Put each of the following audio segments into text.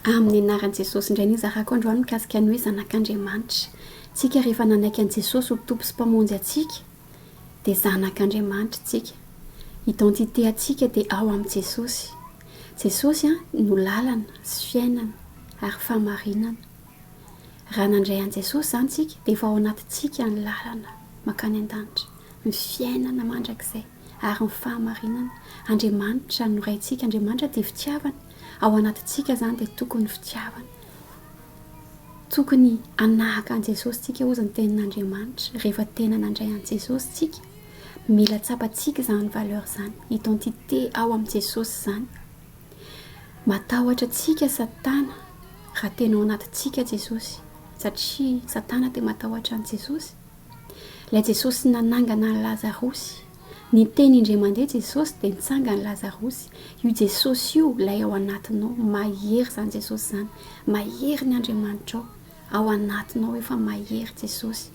Amin'ny anaran'i Jesosy indray no izarako androany mikasika ny hoe zanak'Andriamanitra. Tsika rehefa nanaiky an'i Jesosy ho Tompo sy Mpamonjy antsika dia zanak'Andriamanitra tsika. Identité antsika dia ao amin'i Jesosy. Jesosy no lalana sy fiainana ary fahamarinana. Raha nandray an'i Jesosy izany tsika dia efa ao anatintsika ny lalana makany an-danitra, ny fiainana mandrakizay. ary ny fahamarinana. Andriamanitra no Raintsika, Andriamanitra dia fitiavana, ao anatintsika izany dia tokony fitiavana. Tokony hanahaka an'i Jesosy tsika hozy ny tenin'Andriamanitra, rehefa tena nandray an'i Jesosy tsika, mila tsapantsika izany valeur izany, identité ao amin'i Jesosy izany. Matahotra antsika Satana raha tena ao anatintsika Jesosy, satria Satana dia matahotra an'i Jesosy. Ilay Jesosy nanangana an'i Lazarosy. Niteny indray mandeha Jesosy dia nitsangana Lazarosy. Io Jesosy io ilay ao anatinao. Mahery izany Jesosy izany. Mahery ny Andriamanitrao. Ao anatinao efa mahery Jesosy.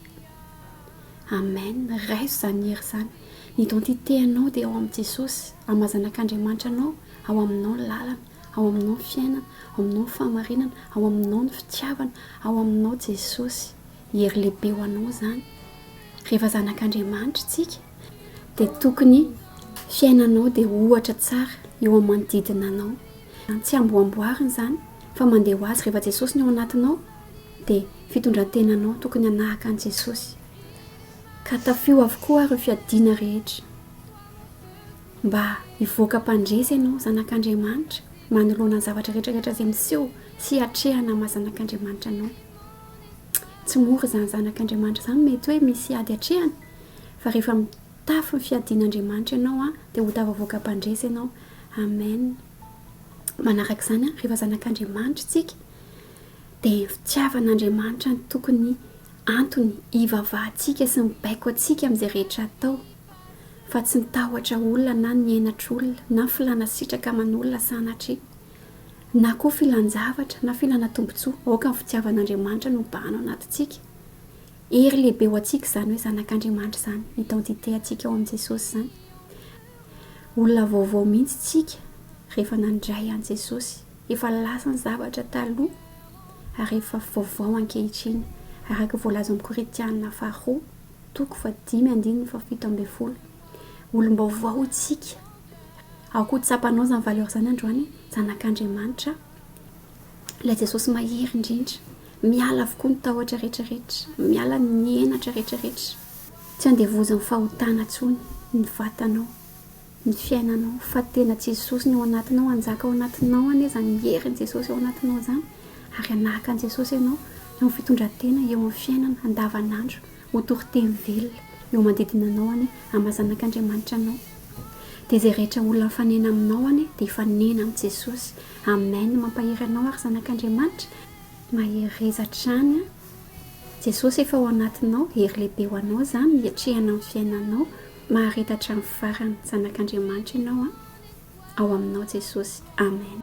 Amen. Raiso izany hery izany. Ny identité anao dia ao amin'i Jesosy. Amin'ny maha zanak'Andriamanitra anao, ao aminao ny lalana, ao aminao ny fiainana, ao aminao ny fahamarinana, ao aminao ny fitiavana, ao aminao Jesosy. Hery lehibe ho anao izany. Rehefa zanak'Andriamanitra isika dia tokony fiainanao dia ohatra tsara eo amin'ny manodidina anao. Tsy amboamboarina izany fa mandeha ho azy. Rehefa Jesosy ny ao anatinao dia fitondran-tenanao tokony hanahaka an'i Jesosy. Ka tafio avokoa ireo fiadiana rehetra mba hivoaka mpandresy ianao zanak'Andriamanitra manoloana ny zavatra rehetrarehetra izay miseho sy atrehana maha zanak'Andriamanitra anao. Tsy mora izany zanak'Andriamanitra izany, mety hoe misy ady atrehana, fa rehefa mitafy ny fiadian'Andriamanitra ianao dia ho tafavoaka mpandresy ianao. Amen. Manaraka izany, rehefa zanak'Andriamanitra isika dia ny fitiavan'Andriamanitra no tokony antony hivavahantsika sy ny baiko antsika amin'izay rehetra atao, fa tsy ny tahotra olona na ny henatr'olona na filana sitraka aman'olona sanatria. na koa filan-javatra na filana tombontsoa, aoka ny fitiavan'Andriamanitra no mibahana ao anatintsika. Hery lehibe ho antsika izany hoe zanak'Andriamanitra izany, identité antsika ao amin'i Jesosy izany. Olona vaovao mihitsy isika rehefa nandray an'i Jesosy, efa lasa ny zavatra taloha ary efa vaovao ankehitriny, araka ny voalaza ao amin'ny Korintiana faharoa, toko fahadimy andininy fahafito ambin'ny folo. Olom-baovao isika Ao koa tsapanao izany valeur izany androany e! Zanak'Andriamanitra, ilay Jesosy mahery indrindra. Miala avokoa ny tahotra rehetra rehetra, miala ny henatra rehetra rehetra. Tsy andevozin'ny fahotana intsony ny vatanao, ny fiainanao, fa tena Jesosy ny ao anatinao, hanjaka ao anatinao anie izany herin'i Jesosy ao anatinao izany, ary hanahaka an'i Jesosy ianao eo amin'ny fitondran-tena, eo amin'ny fiainana andavanandro. Ho toriteny velona eo manodidina anao anie ama zanak'Andriamanitra anao. Dia izay rehetra olona mifanena aminao anie dia hifanena amin'i Jesosy. Amen mampahery anao ary zanak'Andriamanitra. Mahereza hatrany an! Jesosy efa ao anatinao, hery lehibe ho anao izany, hiatrehana amin'ny fiainanao, mahareta hatramin'ny farany. Zanak'Andriamanitra ianao an! Ao aminao Jesosy. Amen.